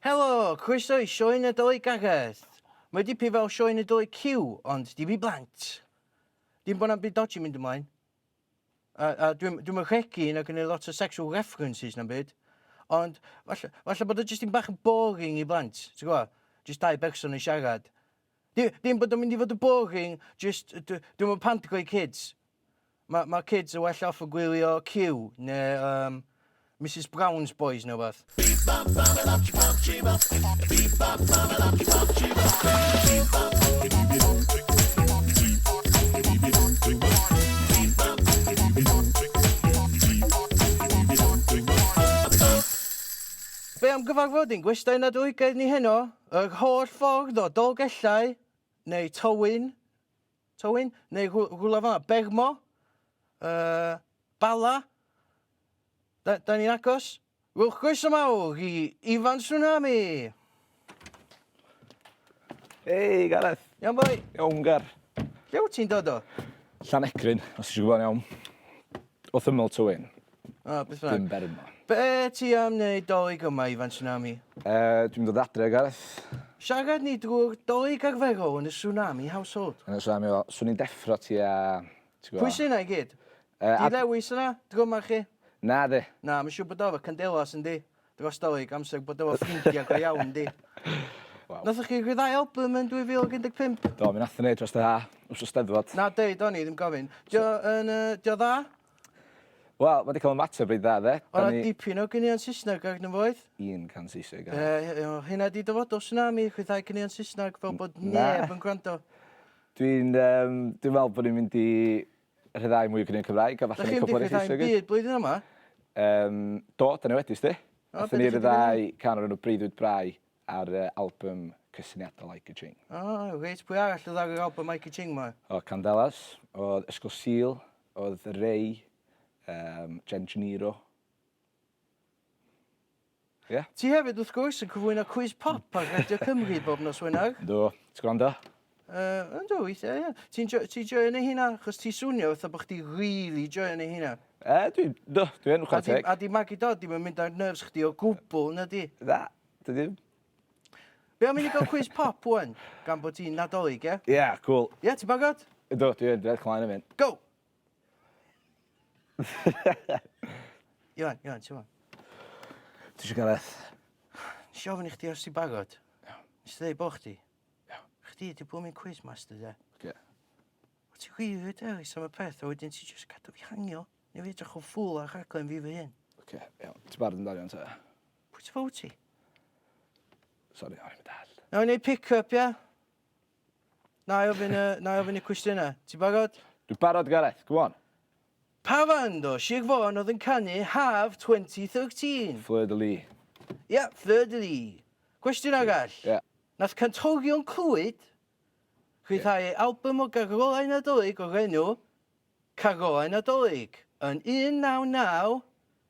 Helo! Croeso i Sioe Nadolig Gareth! Mae dipyn fel Sioe Nadolig Cyw, ond dim i blant. Dim bod na'm byd dodgy mynd ymlaen. A, a dwi'n dwi rhegi na gynnu lot o sexual references na'm byd. Ond falle, falle bod o jyst yn bach yn boring i blant, ti'n gwybod? Jyst dau berson yn siarad. Di- Dim bod o'n mynd i fod yn boring, jyst yy dw- dwi'm yn pandgo i kids. Ma' ma' kids yn well off yn gwylio Q ne' yym Misus Brown's Boys ne' wbath. Be' am gyfarfod ein gwestai Nadoligaidd ni heno? Yr holl ffordd o Dolgellau neu Towyn, Towyn, neu rhw- rhywle fel 'na, Bermo, uh, Bala, da, da ni'n agos. Wel, croeso mawr i Ifan Tsunami! Hei, Gareth! Iawn boi? Iawn, Gar. Lle wyt ti'n dod o? Llanecrin, os ti eisiau gwybod yn iawn. Wrth ymyl Tywyn. O, beth bynnag. Dim Bermo. Be ti am neud dolig yma, Ifan Tsunami? Uh, dwi'n dod adre, Gareth. Siarad ni drwy'r dolig arferol yn y Tsunami Household. Yn y Tsunami Household. Swn i'n deffro ti a... Pwy sy'n yna i gyd? Uh, Di Lewis yna, dryma chi? Na, di. Na, mae'n siŵr bod o efo candelas yn di. Dros dolig, amser bod o efo ffrindiau go iawn, di. Wow. Nathoch chi rhyddhau album yn 2015? Do, mi nath ni dros dy ha, wrth y steddfod. Na, deud o'n i, ddim gofyn. Dio, yn, uh, dio dda? Wel, ma' 'di ca'l ymateb reit dda 'de. O' 'na dipyn o ganeuon Saesneg arno fo oedd? Un can Saesneg arno. Yy o hynna 'di dyfodol Tsunami, chwithau caneuon Saesneg fel bod neb yn gwrando. Dwi'n yym dwi'n me'wl bo' ni'n mynd i rhyddhau mwy o ganeuon Cymraeg a falle neud cwpwl eryll Saesneg 'fyd. Dach chi'm 'di rhyddhau 'im'byd blwyddyn yma? Yym do, 'dan ni wedi 'sdi. O be' 'dach chi 'di neud? Nathon ni ryddhau can o'r enw Breuddwyd Brau ar yy albym cysyniadol Ike a Ching. O reit, pwy arall o'dd ar yr albym Ike a Ching 'ma? O Candelas, o'dd Ysgol Sul, Oedd Ray, um, Jen Cheniro. Ie? Yeah? Ti hefyd, wrth gwrs, yn cyflwyno Cwis Pop ar Radio Cymru bob nos Wener. Do, ti'n gwrando? Uh, yn do, weithiau, ie. Ti'n jo, ti joio neu hynna? Chos ti swnio fatha bod chdi really joio neu hynna. E, dwi, do, dwi'n chwarae teg. A di Maggie Dodd ddim yn mynd ar nerves chdi o gwbl, na di? Na, dwi ddim. Be am i ni gael cwis pop ŵan, gan bod ti'n Nadolig, ie? Ie, cŵl. Ie, ti'n bagod? Ydw, dwi yn, dwi edrych ymlaen am hyn. Go! Iwan, Iwan, ti'n fawr? Ti eisiau Gareth? Nes i ofyn i chdi os ti'n bagod. Nes i ddweud bo chdi. Chdi di bod mi'n cwis master, ie? Ie. Wyt ti wir wedi dewis am y peth, a wedyn ti jyst cadw fi hangio. Neu fi edrych yn ffwl ar rhaglen fi fy hun. Oce, iawn. Ti'n barod amdano, Iwan, ta? Pwy ti fo ti? Sori o'n i'm yn dall. Nawn ni pick up ia? Na'i ofyn y, na'i ofyn y cwestiyna. Ti barod? Dwi barod Gareth, go on. Pa fand o Sir Fôn oedd yn canu Haf 2013? Fleur de Lis. Ia, Fleur de Lis. Cwestiwn arall. Ia. Nath cantorion Clwyd rhyddhau ei albym o garolau Nadolig o'r enw Carolau Nadolig yn 1990.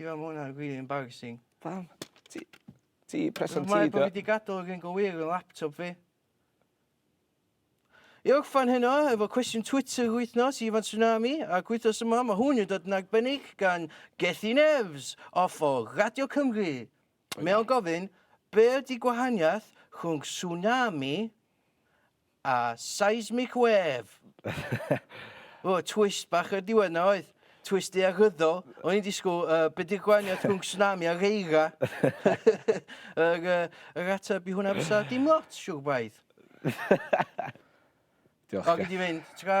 Ie ma' wnna rili embarrasing. Pam? Ti ti presant ti 'di o. Mae bo' fi 'di gadal yr un go wir yn laptop fi. I orffan heno efo cwestiwn Twitter yr wythnos i Ifan Tsunami ac wythnos yma ma' hwn yn dod yn arbennig gan Gethin Evs off o Radio Cymru. Mae o'n gofyn be' ydi gwahaniath rhwng tsunami A seismic wave! O, twist bach ar diwedd 'na oedd. Twist daearyddol. O'n i'n disgwyl, uh, be di'r gwahaniaeth rhwng tsunami a reira? yr, uh, yr ateb i hwnna fysa dim lot, siwr braidd. Diolch. O, gyd i fynd. Tra.